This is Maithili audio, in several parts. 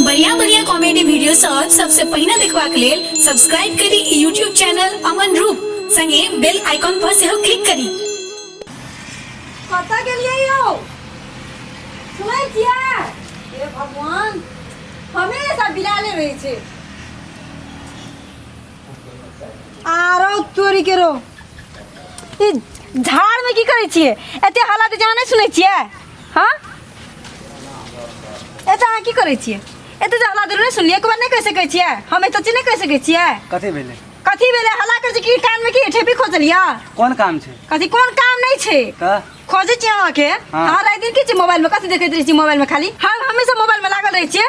बढ़िया बढ़िया कॉमेडी वीडियो सब सबसे पहिने देखबाक लेल सब्सक्राइब करी यूट्यूब चैनल अमन रूप संगे बेल आइकॉन पर सेहो क्लिक करी कतऽ गेलियै यौ सुनै छियै हे भगवान हमेशा बिलाले रहै छै आरो चोरी केरो ई झाड़मे की करै छियै एते हालत जहाँ नहि सुनै छियै हाँ ए तऽ अहाँ की करै छियै एते जे हल्ला जरूर सुनलियै एक बार नहि कहि सकै छियै हम एते चीज नहि कहि सकै छियै कथी भेलै कथी भेलै हल्ला करै छी की कान में की ठेपी खोजलिया कोन काम छै कथी कोन काम नहीं छै तऽ खोजै छी अहाँके हाँ। अहाँ राति दिन की छी मोबाइल में कथी देखैत रहै छी मोबाइल में खाली हम हमेशा मोबाइल में लागल रहै छियै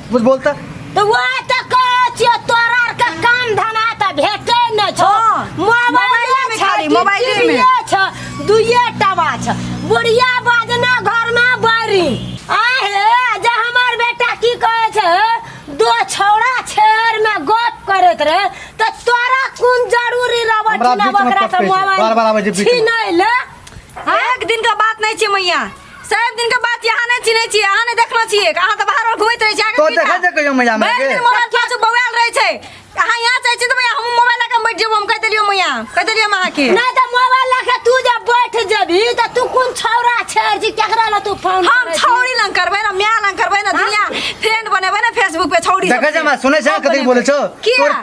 कुछ बोलता तो वो तो कहे छियो तोरा आर के काम धना त भेटे न छो हाँ, मोबाइल मोबाइले में खाली, मोबाइले में। में छ दुइये टबा छ बुढ़िया बाजना घर में बारी आहे जे हमर बेटा की कहे छ दो छौड़ा छेर में गप करत रहे त तोरा कोन जरूरी रबट हमरा न बीच में बकरा से पकड़े छै। मोबाइल बार-बार आबै छै बीच में। छीनै ले एक दिन का बात नहीं छे मैया साहेब दिन के बात यहाँ नहीं चिन्है छी अहाँ नहीं देखलो छी अहाँ तऽ बाहर घुमैत रहै छी आगे तो देखै छै कहियो मैया हमरा के मोबाइल क्लास बौआल रहै छै अहाँ यहाँ चाहै छी तऽ मैया हम मोबाइल लऽ कऽ बैठ जेबो हम कहि देलियो मैया कहि देलियो हम अहाँ के नहीं तो मोबाइल लेके तू जब बैठ जेबी तो तू कौन छौरा छेड़ जी केकरा ला तू फोन हम करै छी? छौड़ी लंग करबै ना माय लंग करबै ना दुनिया फ्रेंड बनेबै ना फेसबुक पे छौड़ी देखै छै हमरा सुनै छै कथी बोलै छौ किया? तोर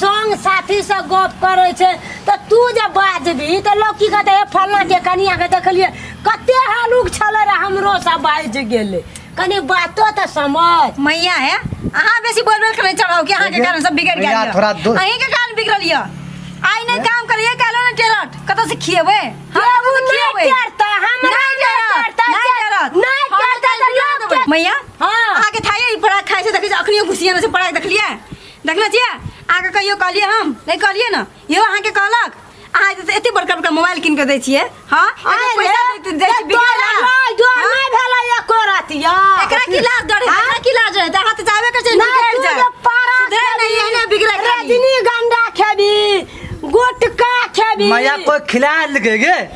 संग साथी से गप करे छै त तू जे बाजबी त लोग की कहते हे फलना के कनिया के देखलिए कते हलुक छले रे हमरो सब बाज गेले कनी बातो त समझ मैया है अहाँ बेसी बोल बोल के नहीं चढ़ाओ कि अहाँ के कारण सब बिगड़ गया मैया, थोड़ा दो- अहीं के कारण बिगड़ल ये आई नहीं काम करिए कहलो ना टेलर कत से खिएबे हम केहू कतऽ से नहीं खिएबै? करता, हमरा नहीं नहीं टेलर, करता, नहीं जे- टेलर। नहीं हम करता, टेलर जे बिगड़ा लोग देबै। के- मैया हाँ। अहाँ के थाई पराग खाइ छै देखै छै अखनियो घुसिया में से पराग देखलिए देखना छियै अहाँके कहियो कहलियै हम नहि कहलियै ने इहो अहाँके कहलक अहाँ जे एते बड़का बड़का मोबाइल कीन के दै छियै हाँ एते पैसा दै- दै छियै बिकाय ला। हाँ? एकरा की लाज डर है एकरा की लाज है अहाँ तऽ चाहबे करै छियै बिगड़ि जाय सुधरे नहि एहने बिगड़ै खाली। मजा कोई खिला लगे गे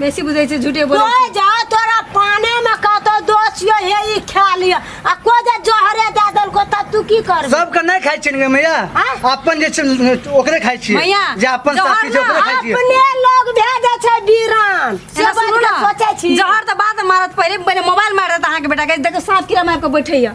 बेसी बुझै छै झूठे बोलै कोई जा तोरा पाने में कतो दोष यो हे ई खा लिया आ को जे जहरे दे देल को तब तू की करबे सबके नहि खाइ छियै ने मैया आँय? अपन जे छै ने, ओकरे खाइ छियै मैया, जे अपन जहर साथी छै ना, ओकरे खाइ छियै अपने लोग भेजे छै बीरान से एना बात सुनू के ना, सोचे छी जहर तऽ बाद में मारत पहिले पहिले मोबाइल मारत अहाँके बेटा के देखो साफ कीड़ा मार के बैठैया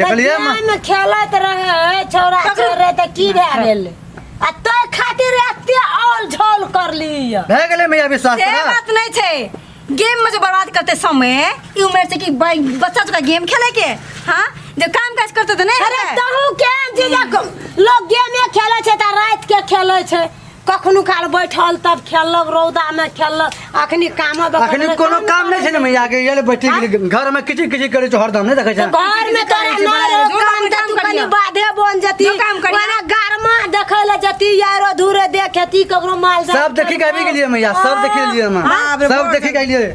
देखलिए माँ में खेलत रहे छोरा छोरे त की भए गेल आ तो खातिर एते औल झोल कर लिया भए गेलै मैया विश्वास से तोरा बात नहीं थे गेम में जो बर्बाद करते समय ई उम्र से कि भाई बच्चा चुका गेम खेले के हाँ जब काम काज करते तो नहीं अरे होता है। तहू के जीजा को- लोग गेमे खेले छै त रात के खेले छै कखनो काल बैठल तब खेललक रौदामे खेललक अखनी काम अखनी कोनो काम नहि छै ने मैया के ये ले बैठी गेली घर में किचिर किचिर करे छो हरदम नहि देखै छै घर में तोरा मार जो काम काम तू कनी करियो। बाधे बन जती जो काम करियो। ओना गरमा देखै ले जती यारो धूरे देखेती ककरो माल जाल सब देखि के आबि गेलियै मैया सब देखि लेलियै हम हाँ, बड़े सब बड़े देखि के आइलियै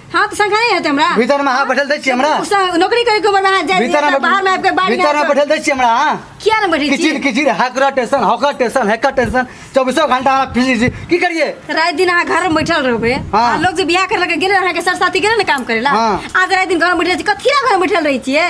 हाँ तो संग है हमरा भीतर में हाँ बैठल दै छियै हमरा उस नौकरी करे के उम्र में हाँ जाए भीतर में बाहर में आपके बाहर भीतर में बैठल दै छियै हमरा हाँ क्या ना बैठे किचिर किचिर हाकरा tension hawker tension hacker tension चौबीसों घंटा हमरा फिर जी की करिए रात दिन अहाँ घर में बैठल रहबे हाँ। लोग जे बियाह कर लगे गेले अहाँ के सरसाती गेले ना काम करेला हाँ। आज रात दिन घर में बैठल छी कथी घर में बैठल रही छियै